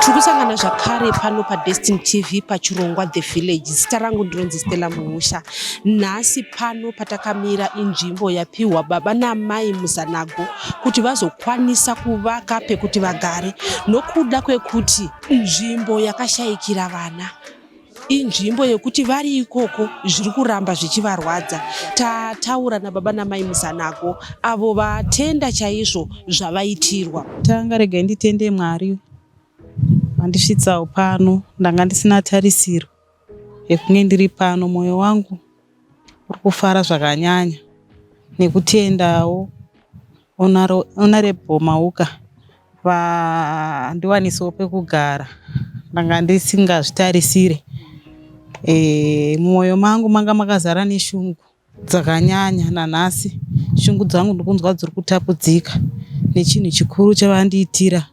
tiri kusangana zvakare pano padestin tv pachirongwa the village zita rangu ndinonzi stella muhusha nhasi pano patakamira inzvimbo yapiwa baba naamai muzanago kuti vazokwanisa kuvaka pekuti vagare nokuda kwekuti nzvimbo yakashayikira vana inzvimbo yekuti vari ikoko zviri kuramba zvichivarwadza tataura nababa namai muzanako avo vatenda chaizvo zvavaitirwa tanga regai nditende mwari vandisvitsawo pano ndanga ndisina tarisiro yekunge ndiri pano mwoyo wangu uri kufara zvakanyanya nekutendawo honourable Mauka vandiwanisawo pekugara ndanga ndisingazvitarisire mumwoyo mangu manga makazara neshungu dzakanyanya nanhasi shungu dzangu ndikunzwa dziri kutapudzika nechinhu chikuru chavandiitira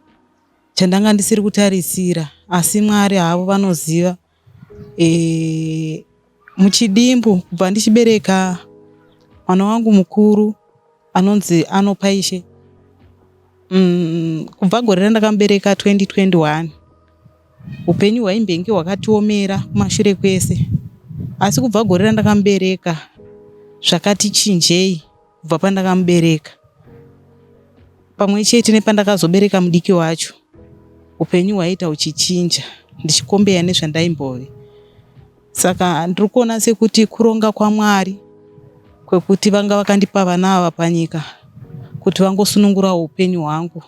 chandanga ndisiri kutarisira asi Mwari havo vanoziva. e, muchidimbu kubva ndichibereka mwana wangu mukuru anonzi anopa ishe mm, kubva gore randakamubereka 2021 upenyu hwaimbenge hwakatiomera kumashure kwese asi kubva gore randakamubereka zvakati chinjei kubva pandakamubereka pamwe chete nepandakazobereka mudiki wacho upenyu hwaiita uchichinja ndichikombeya nezvandaimbove saka ndiri kuona sekuti kuronga kwamwari kwekuti vanga vakandipa vana ava panyika kuti vangosunungura upenyu hwangu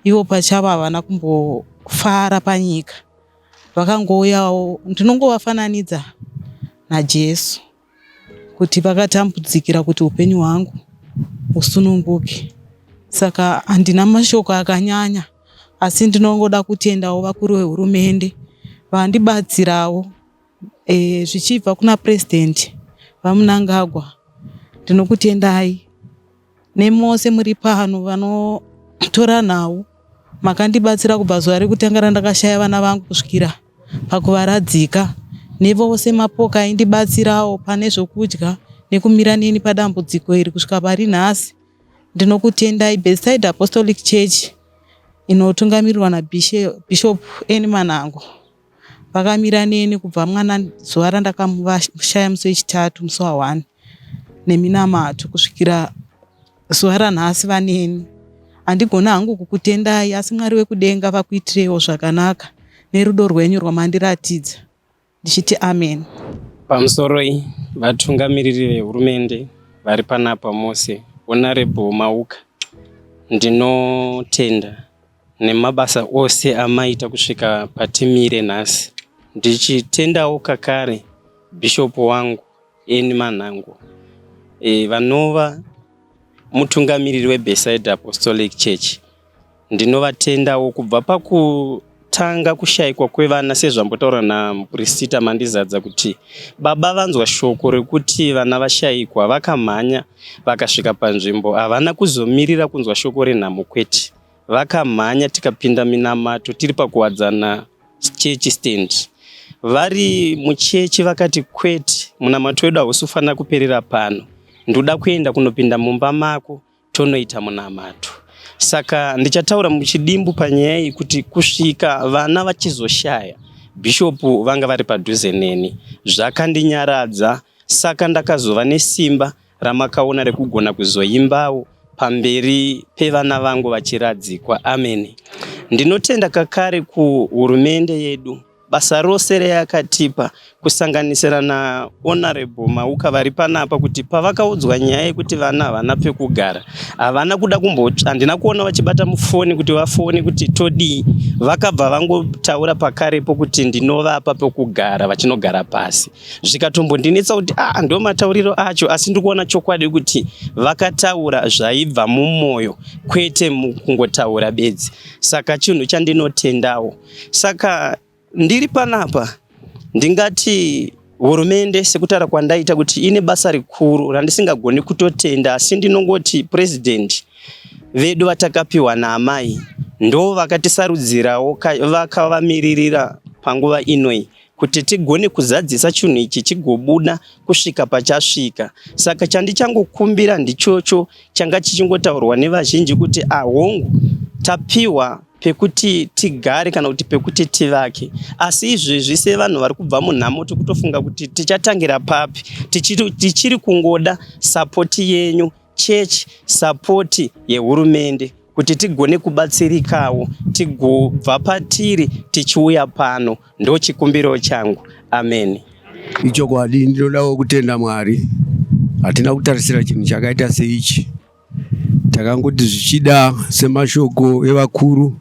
ivo pachavo havana kumbofara panyika vakangouyawo ndinongovafananidza najesu kuti vakatambudzikira kuti upenyu hwangu husununguke saka handina mashoko akanyanya asi ndinongoda kutendawo vakuru vehurumende vandibatsirawo e, zvichibva kuna president vamunangagwa ndinokutendai nemose muri pano vanotora nhau makandibatsira kubva zuva rekutanga randakashaya vana vangu kusvikira pakuvaradzika nevose mapoka aindibatsirawo pane zvokudya nekumira neni padambudziko iri kusvika pari nhasi ndinokutendai beside apostolic church inotungamirirwa nabishop eni manango vakamira neni kubva mwana zuva randakamushaya musi wechitatu musi wahwani neminamato kusvikira zuva ranhasi vaneni handigona hangu kukutendai asi mwari wekudenga vakuitirewo zvakanaka nerudo rwenyu rwamandiratidza ndichiti amen pamusoroi vatungamiriri vehurumende vari panapa mose honorable mauka ndinotenda nemabasa ose amaita kusvika patimire nhasi ndichitendawo kakare Bishop wangu Eni Manhango e, vanova mutungamiriri weBeside Apostolic Church ndinovatendawo kubva paku kutanga kushaikwa kwevana sezvambotaura namupristita mandizadza kuti baba vanzwa shoko rekuti vana vashaikwa vakamhanya vakasvika panzvimbo havana kuzomirira kunzwa shoko renhamo kwete vakamhanya tikapinda minamato tiri pakuwadzana chechi stand vari muchechi vakati kwete munamato wedu hausi kufanira kuperera pano ndoda kuenda kunopinda mumba mako tonoita munamato saka ndichataura muchidimbu panyaya iyi kuti kusvika vana vachizoshaya bhishopu vanga vari padhuze neni zvakandinyaradza saka ndakazova nesimba ramakaona rekugona kuzoimbawo pamberi pevana vangu vachiradzikwa ameni ndinotenda kakare kuhurumende yedu basa rose reyakatipa kusanganisira nahonorable mauka vari panapa kuti pavakaudzwa nyaya yekuti vana havana pekugara havana kuda kumbotsva handina kuona vachibata mufoni kuti vafone kuti todii vakabva vangotaura pakarepo kuti ndinovapa pekugara vachinogara pasi zvikatombondinetsa kuti a ah, ndo matauriro acho asi ndiri kuona chokwadi kuti vakataura zvaibva mumwoyo kwete mukungotaura bedzi saka chinhu chandinotendawo saka ndiri panapa ndingati hurumende sekutara kwandaita kuti ine basa rikuru randisingagoni kutotenda asi ndinongoti purezidhendi vedu vatakapiwa naamai ndo vakatisarudzirawo vakavamiririra panguva inoi kuti tigone kuzadzisa chinhu ichi chigobuda kusvika pachasvika. Saka chandichangokumbira ndichocho changa chichingotaurwa nevazhinji kuti ahongu ah, tapiwa pekuti tigare kana kuti pekuti tivake asi izvezvi sevanhu vari kubva munhamo tikutofunga kuti tichatangira papi tichiri, tichiri kungoda sapoti yenyu church support yehurumende kuti tigone kubatsirikawo tigobva patiri tichiuya pano ndochikumbiro changu amen ichokwadi ndinodawo kutenda mwari hatina kutarisira chinhu chakaita seichi takangoti zvichida semashoko evakuru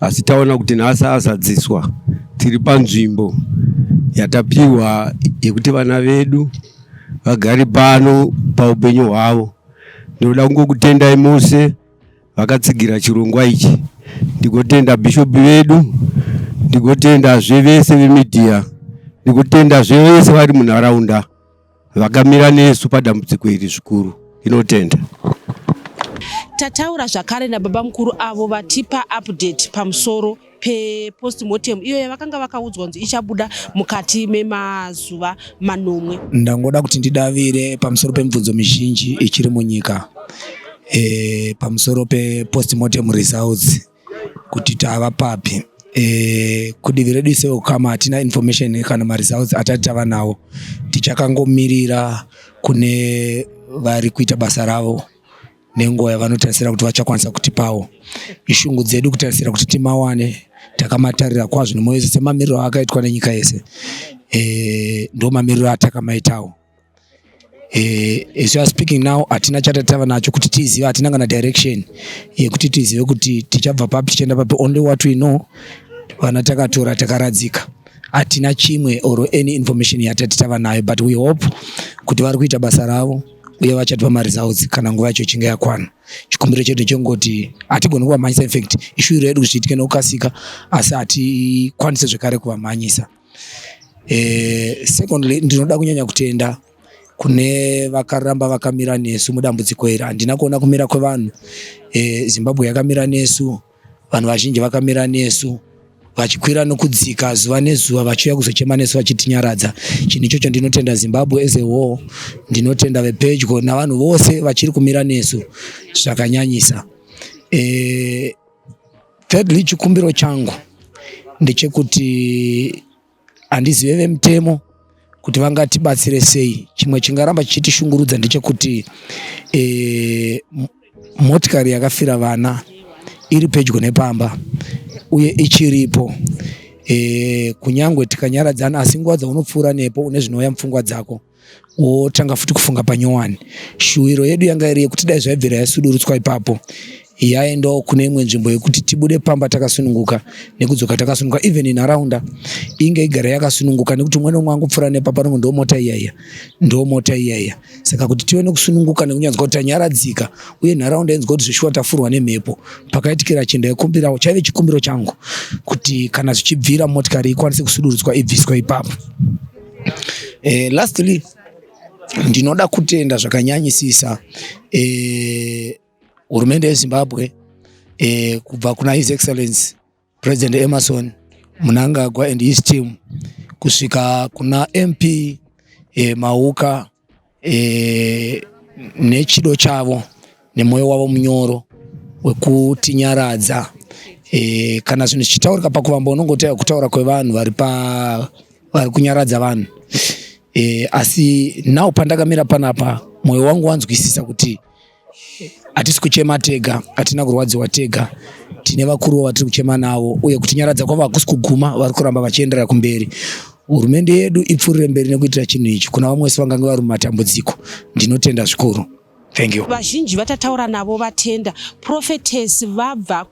asi taona kuti nhasi azadziswa tiri panzvimbo yatapiwa yekuti vana vedu vagari pano paupenyu hwavo. Ndinoda kungokutendai mose vakatsigira chirongwa ichi. Ndigotenda bhishopi vedu, ndigotendazve vese vemidhiya, ndigotendazve vese vari munharaunda vakamira nesu padambudziko iri zvikuru. Inotenda. Tataura zvakare nababa mukuru avo vatipa update pamusoro pepostmortem iyo yavakanga vakaudzwa kunzi ichabuda mukati memazuva manomwe. Ndangoda kuti ndidavire pamusoro pemibvunzo mizhinji ichiri munyika e, pamusoro pepostmortem results kuti tava papi e, kudivi redu isewo kama hatina information kana maresults atati tava nawo tichakangomirira kune vari kuita basa ravo nenguva yavanotarisira kuti vachakwanisa kutipawo ishungu dzedu kutarisira kuti timawane takamatarira kwazvo nemoyo yese semamiriro akaitwa nenyika yese e, ndo mamiriro atakamaitawo e, as are speaking now hatina chata tava nacho kuti tizive hatina kana direction yekuti tizive kuti tichabva papi tichienda papi only what we know vana takatora takaradzika hatina chimwe or any information yatati tava nayo but we hope kuti vari kuita basa ravo uye vachatipa mari dzavo kana nguva yacho ichinge yakwana chikumbiro chedu chengoti hatigoni kuvamhanyisa infact ishuviro yedu kuti zviitike nekukasika asi hatikwanise zvekare kuvamhanyisa eh, secondly ndinoda kunyanya kutenda kune vakaramba vakamira nesu mudambudziko iri handina kuona kumira kwevanhu eh, zimbabwe yakamira nesu Vanhu vazhinji vakamira nesu vachikwira nokudzika zuva nezuva vachiuya kuzochema nesu vachitinyaradza chinhu ichocho ndinotenda zimbabwe as a whole ndinotenda vepedyo navanhu vose vachiri kumira nesu zvakanyanyisa e, thirdly chikumbiro changu ndechekuti handizive vemutemo kuti vangatibatsire sei chimwe chingaramba chichitishungurudza ndechekuti e, motikari yakafira vana iri pedyo nepamba uye ichiripo e, kunyangwe tikanyaradzana asi nguva dzaunopfuura nepo une zvinouya mupfungwa dzako wotanga futi kufunga panyowani shuwiro yedu yanga iri yekuti dai zvaibvira yasudurutswa ipapo yaendawo kune imwe nzvimbo yekuti tibude pamba takasununguka nekudzoka takasununguka even inharaunda inge igara yakasununguka nekuti umwe nomwe angopfuura nepa panongo ndo mota iyaiya ndo mota iyaiya saka kuti tive nekusununguka nekunyanzwa kuti tanyaradzika uye nharaunda inzwa kuti zveshuwa tafurwa nemhepo pakaitikira chenda yekumbirawo chaive chikumbiro changu kuti kana zvichibvira motikari ikwanise kusudurutswa ibviswa ipapo Eh, lastly ndinoda kutenda zvakanyanyisisa eh, hurumende eh, yezimbabwe eh, kubva kuna his excellence president emerson munangagwa and his team kusvika kuna mp eh, mauka e, nechido chavo nemwoyo wavo munyoro wekutinyaradza e, kana zvinhu zvichitaurika pakuvamba unongoteya kutaura kwevanhu vari pa vari kunyaradza vanhu e, asi now pandakamira panapa mwoyo wangu wanzwisisa kuti hatisi kuchema tega hatina kurwadziwa tega tine vakuruwo vatiri kuchema navo uye kutinyaradza kwavo hakusi kuguma vari kuramba vachienderera kumberi hurumende yedu ipfurire mberi nekuitira chinhu ichi kuna vamwe wese vangange vari mumatambudziko ndinotenda zvikuru vazhinji vatataura navo vatenda prophetess vabva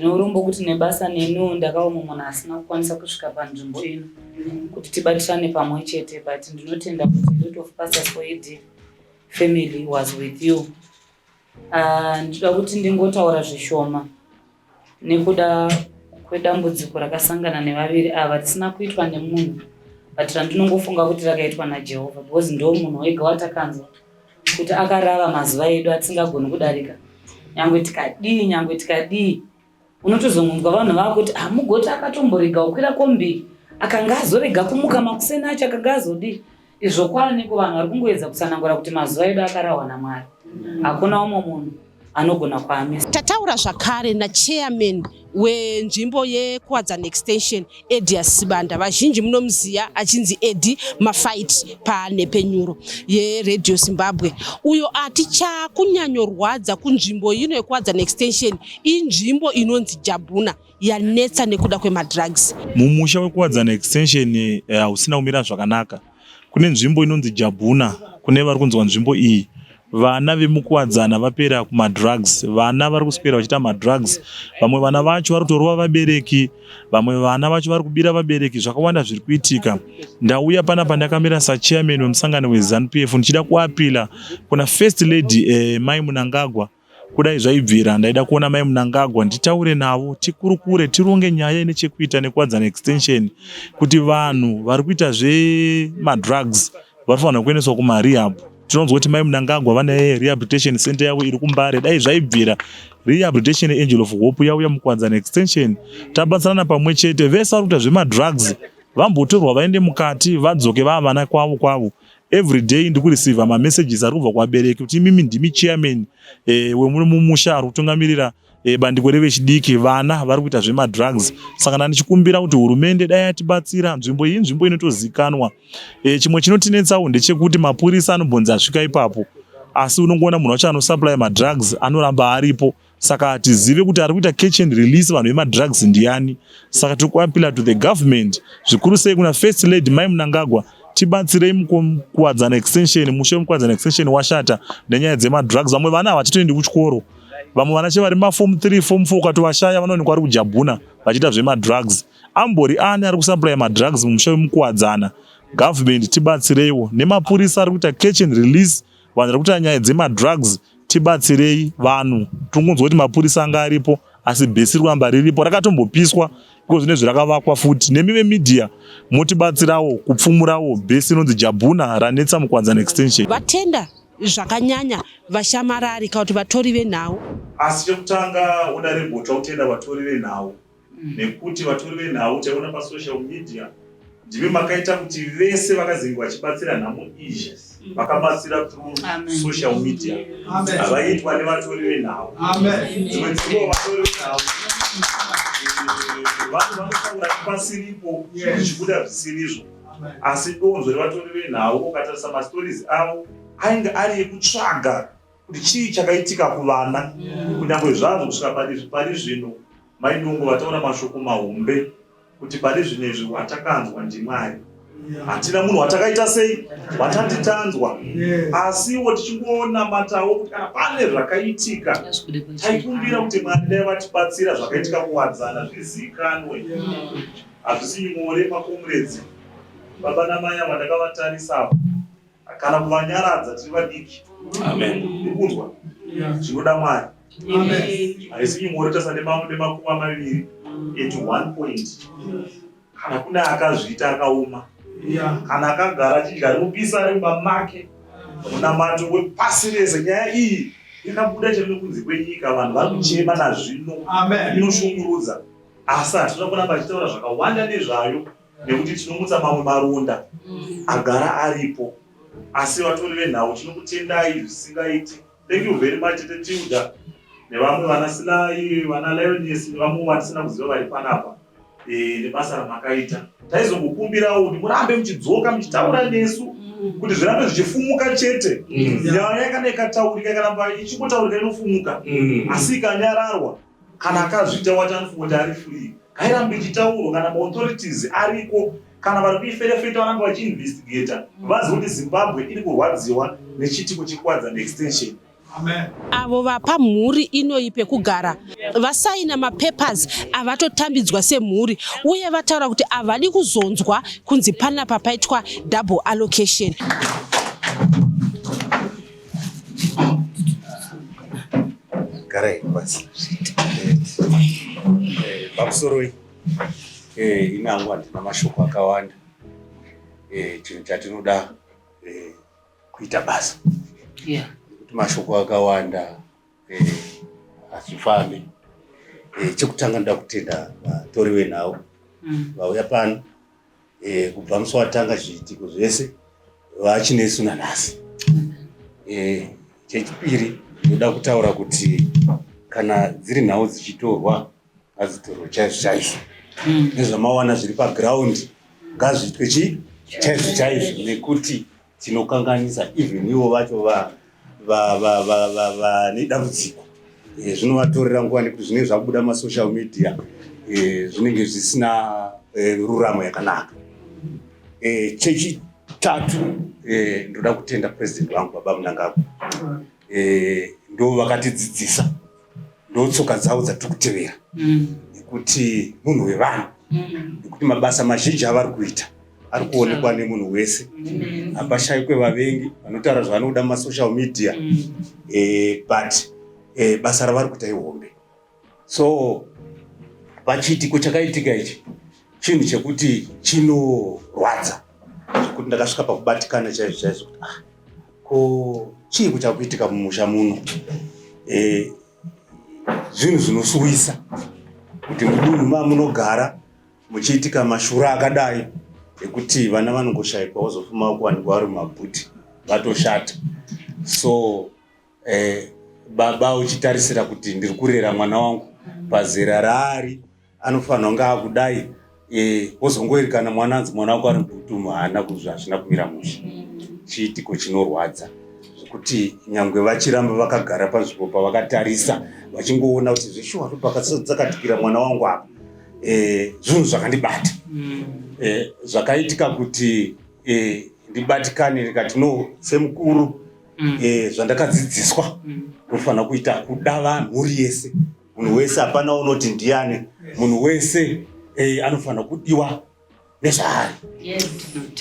Neurombo kuti nebasa neniwo ndakaoma munhu asina kukwanisa kusvika panzvimbo ino kuti tibatisane pamwe chete but ndinotenda kuti lot of pastor soidi family was with you ah, ndinoda kuti ndingotaura zvishoma nekuda kwedambudziko rakasangana nevaviri ava risina kuitwa nemunhu but randinongofunga kuti rakaitwa najehovha because ndo munhu wega watakanzwa kuti akarava mazuva edu atisingagoni kudarika nyangwe tikadii nyangwe tikadii unotozongonzwa vanhu vava kuti hamugoti ah, akatomborega kukwira kombi akanga azorega kumuka makuseni acho akanga azodii izvo kwaaniko vanhu vari kungoedza kutsanangura kuti mazuva edu akarahwa namwari hakuna umwe munhu anogona kwame. Tataura zvakare nachairman wenzvimbo yekuwadzana extension edia sibanda vazhinji munomuziva achinzi edi mafight panhepfenyuro yeradio zimbabwe uyo ati chakunyanyorwadza kunzvimbo ino yekuwadzana extension inzvimbo inonzi jabhuna yanetsa nekuda kwemadrugs mumusha wekuwadzana extension eh, hausina uh, kumira zvakanaka Kune nzvimbo inonzi Jabhuna kune vari kunzwa nzvimbo iyi vana vemukuwadzana vapera kumadrugs vana vari kuswera vachiita madrugs vamwe vana vacho vari kutorova vabereki vamwe vana vacho vari kubira vabereki zvakawanda zviri kuitika ndauya pana pandakamira sachairman wemusangano wezanu p f ndichida kuapila kuna first lady eh, mai munangagwa Kudai zvaibvira, ndaida kuona mai Mnangagwa nditaure navo, tikurukure, tironge nyaya ine chekuita nekuwadzana extension kuti vanhu vari kuita zvemadrugs vanofanirwa kuendeswa kumarehab. Tinonzwa kuti mai Mnangagwa vane rehabilitation center yavo iri kuMbare. Dai zvaibvira, rehabilitation Angel of Hope yauya mukuwadzana extension, tabatsirana pamwe chete, vese vari kuita zvemadrugs vambotorwa vaende mukati vadzoke vava vana kwavo kwavo. every day ndikureceiva mamessages ari kubva kuvabereki kuti imimi ndimi chairman eh, wemuno mumusha ari kutungamirira eh, bandiko revechidiki vana vari kuita zvemadrugs saka na ndichikumbira kuti hurumende dai atibatsira nzvimbo iyi nzvimbo inotozikanwa eh, chimwe chinotinetsawo ndechekuti mapurisa anombonzi asvika ipapo asi unongoona munhu wacho anosupply madrugs anoramba aripo saka hatizive kuti ari kuita catch and release vanhu vemadrugs ndiani saka tiri kuapila to the government zvikuru sei kuna first lady mai munangagwa tibatsirei mukuwadzana extension mushe mukuwadzana extension washata nenyaya dzemadrugs vamwe vana havachatoendi kuchikoro vamwe vana che vari mafom 3 fom 4 ukatovashaya vanoonekwa vari kujabhuna vachiita zvemadrugs ambori ani ari kusaplaya madrugs mumusha wemukuwadzana government tibatsireiwo nemapurisa ari kuita catch and release Vanhu vari kuita nyaya dzemadrugs tibatsirei vanhu. Tiri kunzwa kuti mapurisa anga aripo asi bhesi ramba riripo rakatombopiswa iko zvine zvirakavakwa futi nemi vemedia motibatsirawo kupfumurawo bhesi inonzi jabhuna ranetsa mukwadzana extension vatenda zvakanyanya vashamarari kana kuti vatori venhau asi chekutanga uda rebotwa kutenda vatori venhau mm. nekuti vatori venhau taiona pasocial media ndimi makaita kuti vese vakazenge vachibatsira nhamo iyi mm. vakabatsira through social media havaitwa nevatori venhau dzimwe dzimwe vatori venhau vanhu vanotaura pasiripo zvichibuda zvisirizvo asi donzo revatori venhau ukatarisa mastories avo ainge ari ekutsvaga kuti chii chakaitika kuvana kunyange zvazvo kusvika pari zvino Mai Nungo vataura mashoko mahombe kuti pane zvinhu izvi watakanzwa ndiMwari. Hatina munhu watakaita sei watati tanzwa asiwo tichingonamatawo kuti kana pane zvakaitika taikumbira kuti Mwari dai vatibatsira zvakaitika kuwadzana zvizikanwe. Hazvisi nyore makomredzi baba namai ava ndakavatarisa apa kana kuvanyaradza tiri vadiki ndikunzwa zvinoda mwari haisi nyore tasa nemakumi amaviri at one point kana kune akazviita akaoma kana akagara achidya rimupisa ari mumba make munamato wepasi rese nyaya iyi yakabuda chero nekunze kwenyika vanhu vari kuchema nazvino inoshungurudza asi hatinoda kuramba achitaura zvakawanda nezvayo nekuti tinomutsa mamwe maronda mm. agara aripo asi vatori venhau tinokutendai zvisingaiti thank you very much tete tilda nevamwe vana silai vana lionis nevamwe vatisina kuziva vari panapa e, nebasa ramakaita taizongokumbirawo kuti murambe muchidzoka muchitaura nesu mm. kuti zvirambe zvichifumuka chete mm. nyaya kana ikataurika ikaramba ichingotaurika inofumuka asi ikanyararwa Kana akazviita wati anofunga kuti ari free ngairambe ichitaurwa kana maauthorities ariko kana vari kuiferefeta varambe vachiinvestigata vazive kuti zimbabwe iri kurwadziwa nechitiko chekwadza neextension Amen. avo vapa mhuri inoyi pekugara vasaina mapapers avatotambidzwa semhuri uye vataura kuti havadi kuzonzwa kunzi panapa paitwa double allocation Garai basi. Eh, Bamusoroi. Eh, ini hangu handina mashoko akawanda. Eh, chinhu chatinoda eh, kuita basa. Yeah. Kuti mashoko akawanda eh, hazvifambi. Eh, chekutanga ndoda kutenda vatori venhau Mm. vauya pano e, kubva musi watanga zviitiko zvese vachinesu nanhasi e, chechipiri ndoda kutaura kuti kana dziri nhau dzichitorwa ngadzitorwe chaizvo chaizvo mm. nezvamawana zviri pagraundi ngazviitwe chii chaizvo chaizvo nekuti chinokanganisa even ivo vacho vane dambudziko eh, zvinovatorera nguva nekuti zvinenge zvakubuda masocial media eh, zvinenge zvisina eh, ruramo yakanaka chechitatu ndoda kutenda president vangu baba munangagwa ndo vakatidzidzisa ndotsoka dzavo dzatiri kutevera mm. nekuti munhu wevanhu mm. nekuti mabasa mazhinji avari kuita ari kuonekwa nemunhu wese mm. hapashaikwe vavengi vanotaura zvavanoda masocial media eh, but eh, basa ravari kuita ihombe so pachiitiko chakaitika ichi chinhu chekuti chinorwadza zvekuti ndakasvika pakubatikana chaizvo chaizvo kuti ah, ko chii kuchakuitika mumusha muno e, zvinhu zvinosuwisa kuti mudunhu mamunogara muchiitika mashura akadai ekuti vana vanongoshaikwa wozofuma kuwanikwa vari mumabhuti vatoshata so Eh, baba uchitarisira kuti ndiri kurera mwana wangu pazera raari anofanira kunge akudai eh, wozongoerekana mwana anzi mwana wako ari kutumu haana kuzvi hazvina kumira mushe chiitiko chinorwadza zvekuti nyangwe vachiramba vakagara panzvimbo pavakatarisa vachingoona kuti zveshuwa ndopakatsakatikira mwana wangu apa eh, zvinhu zvakandibata eh, zvakaitika kuti eh, ndibatikane ndikati no semukuru mm. eh, zvandakadzidziswa mm. unofanira mm. kuita kuda vanhu mhuri yese munhu wese hapana unoti ndiyani munhu wese eh, anofanira kudiwa nezvaari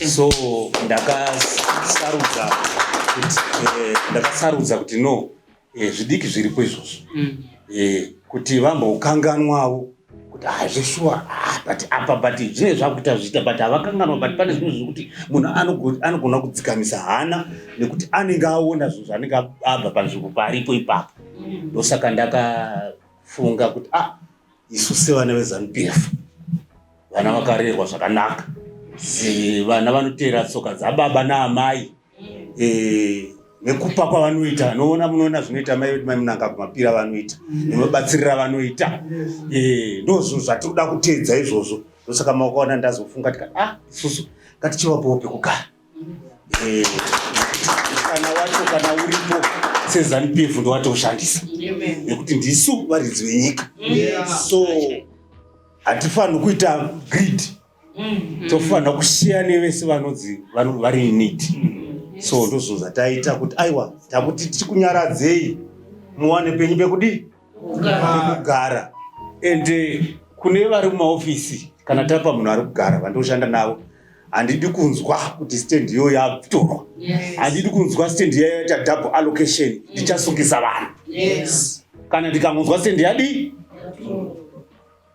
so ndakasarudza kuti eh, ndakasarudza kuti no eh, zvidiki zviripo izvozvo mm. eh, kuti vambokanganwawo kuti haa zveshuwa haa but apa but zvinenge zvakuita zviita but havakanganwa but pane zvimwe zvekuti munhu anogo- anogona kudzikamisa hana nekuti anenge aona zvinhu zvaanenge ab- abva panzvimbo paaripo ipapo ndosaka ndakafunga kuti ah isu sevana vezanup f vana vakarerwa zvakanaka Si- vana vanoteera tsoka dzababa naamai eh, nekupa kwavanoita noona munoona zvinoita mai vedu mai munanga kumapira vanoita nemabatsirira vanoita eh, ndozvo zvatinoda kuteedza izvozvo ndosaka makaona ndazofunga tika ah isusu ngatichivapowo pekugara eh, kana wacho kana uripo sezanupf ndowatoshandisa nekuti ndisu varidzi venyika so hatifaniri kuita greed mm-hmm. tofanira kusiya nevese vanonzi vari inid mm-hmm. so ndozvo zvataita kuti aiwa takuti tiri kunyaradzei muwane penyu pekudii pekugara and eh, kune vari mumaofisi kana tapa munhu ari kugara vandoshanda navo handidi kunzwa kuti stand iyo yatorwa handidi kunzwa stand iya yaita double allocation mm. ndichasungisa vanhu kana ndikangonzwa stand yadii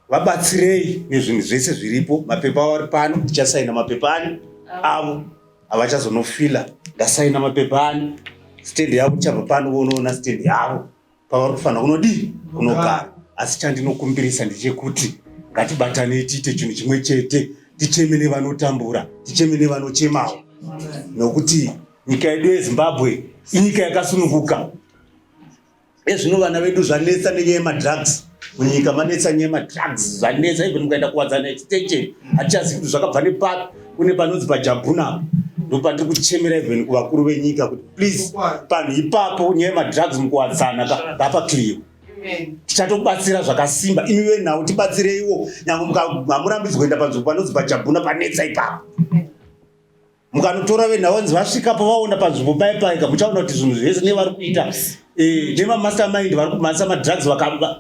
vabatsirei nezvinhu zvese zviripo mapepa avo ari pano ndichasaina mapepa ani avo havachazonofila ndasaina mapepa ani stendi yavo tichabva pano vonoona stendi yavo pavari kufanira kunodii kunogara asi chandinokumbirisa ndechekuti ngatibatanei tiite chinhu chimwe chete ticheme nevanotambura ticheme nevanochemawo nokuti nyika yedu yezimbabwe inyika yakasununguka Ezvino vana vedu zvanetsa nenyaya yemadrugs munyika manetsa nyaya yemadrugs zvanetsa even mukaenda kuwadzana extension hatichazivi kuti zvakabva nepapi kune panonzi pajabhuna ndopatiri kuchemera even kuvakuru venyika kuti please panhu ipapo nyaya yemadrugs mukuwadzana ngapa clear tichatobatsira zvakasimba imi venhau tibatsireiwo nyange hamurambidzwa kuenda panzvimbo panonzi pajabhuna panetsa ipapo mukanotora venhau vanzi vasvika pavaona panzvimbo paye paika muchaona kuti zvinhu zvese nevari kuita eh, nemamaster mind vari kumhanyisa madrugs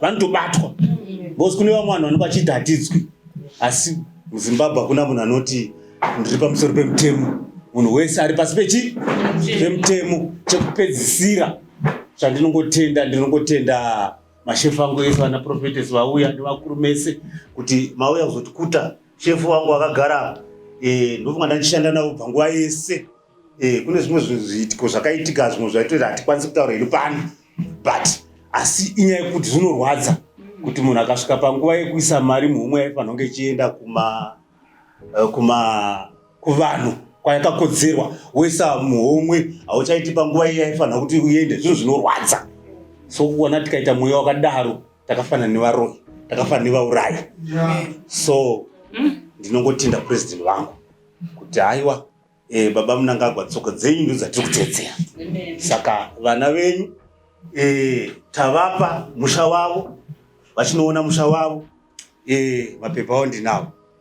vanotobatwa bcause kune vamwe vanhu vanenge vachidhatidzwi asi muzimbabwe hakuna munhu anoti ndiri pamusoro pemutemo munhu wese ari pasi pechi pemutemo chekupedzisira chandinongotenda ndinongotenda mashefu angu ese vanaprofetes vauya nevakuru mese kuti mauya kuzotikuta Chef wangu akagara apa. Eh, ndofunga ndandishanda navo panguva yese. Eh, kune zvimwe zviitiko zvakaitika zvimwe zvaitoita hatikwanisi kutaura iri pano. But asi inyaya yekuti zvinorwadza kuti munhu akasvika panguva yekuisa mari muhomwe yaifanira kunge ichienda kuma eh, kuma kuvanhu kwayakakodzerwa woisa muhomwe hauchaiti panguva iya yaifanira kuti uende zvinhu zvinorwadza so kuona tikaita mweya wakadaro takafanana nevaroyi takafanana nevaurayi so hmm? ndinongotinda president vangu kuti haiwa eh, baba munangagwa tsoka dzenyu ndo dzatiri kutedzera saka vana venyu eh, tavapa musha wavo vachinoona musha wavo eh, mapepa avo ndinavo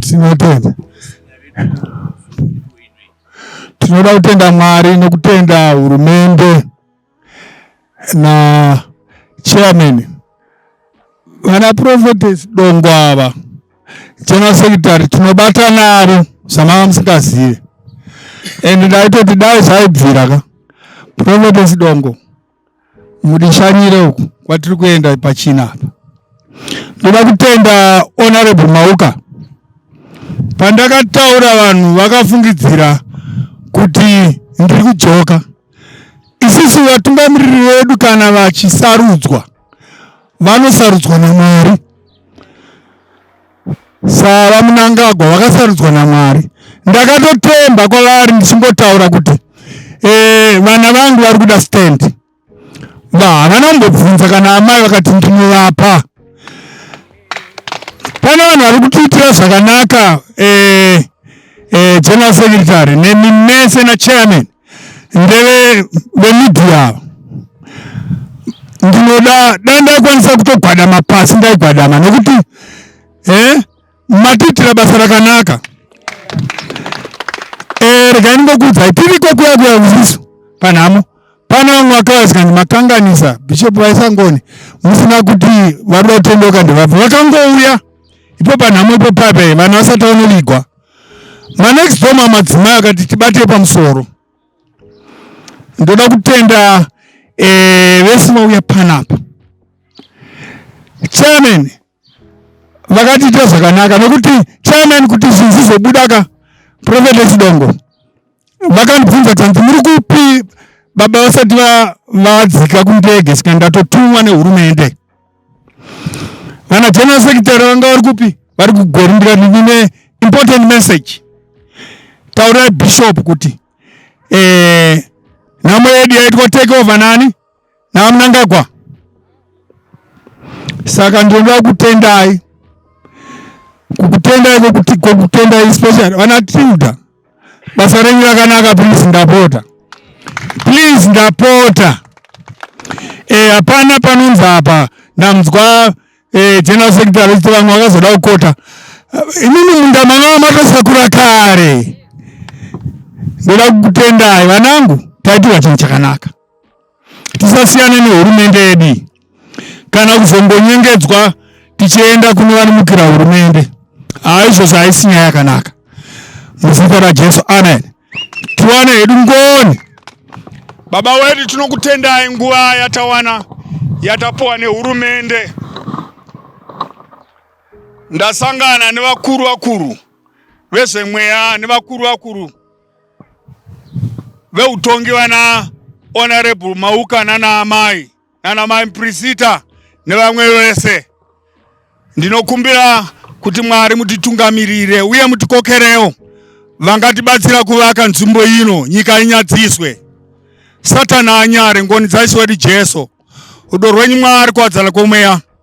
tinotenda tinoda kutenda mwari nekutenda hurumende na chairman vana prophetess dongo ava General Secretary tinobata naro samanga musingazive and ndaitoti dai zvaibvira ka Providence Dongo mudishanyire uku kwatiri kuenda pachina apa ndoda kutenda honorable mauka pandakataura vanhu vakafungidzira kuti ndiri kudzoka isisu vatungamiriri vedu kana vachisarudzwa vanosarudzwa namwari Sava Munangagwa vakasarudzwa naMwari. Ndakatotemba kwavari ndichingotaura kuti eh, vana vangu vari kuda stand va havana kumbobvunza kana amai vakati ndinovapa pane vanhu vari kutiitira zvakanaka eh, eh, general secretary nemi mese nachairman ndeve vemedia ava ndinoda da ndaikwanisa kutogwadama pasi ndaigwadama nekuti eh, matiitira basa rakanaka eh, regai ndingokuudzai tiriko kuya kuya usisu panhamo pane vamwe vakavazikanzi makanganisa bishop vaisangoni musina kuti vari vatondoka ndivabva vakangouya ipo panhamo ipo pape vanhu vasati vanovigwa manext door mamadzimai akati tibate pamusoro ndoda kutenda eh, vese vauya panapa chairman vakatiita zvakanaka nekuti chairman kuti zvinhu zvizobuda ka prophetess dongo vakandibvunza tanzi muri kupi baba vasati vadzika kundege sika ndatotumwa nehurumende vana general secretary vanga vari kupi vari kugori ndikatine important message taurai bishop kuti eh, nhamo yedu yaitwa take over nani naMnangagwa. Saka ndinoda kutendai kukutendai kokutendai especially vana Tilda basa renyu rakanaka please ndapota please ndapota eh, hapana e, panonzi apa ndamzwa e, general secretary vechiti vamwe vakazoda kukota imini munda manga matosakura kare ndoda kukutendai vanangu taitirwa chinhu chakanaka tisasiyane nehurumende yedu kana kuzongonyengedzwa tichienda kune vanomukira hurumende haizvozvo haisi nyaya yakanaka muzita rajesu amen tiwane hedu ngoni baba wedu tinokutendai nguva yatawana yatapuwa nehurumende ndasangana nevakuru vakuru vezvemweya nevakuru vakuru veutongi vana honorable Mauka nana amai nana mai Prisita nevamwe vese, ndinokumbira kuti Mwari mutitungamirire uye mutikokerewo vangatibatsira kuvaka nzvimbo ino, nyika inyadziswe, Satani anyare, ngoni dzaIshe wedu Jesu, rudo rwenyu Mwari, kuwadzana kwomweya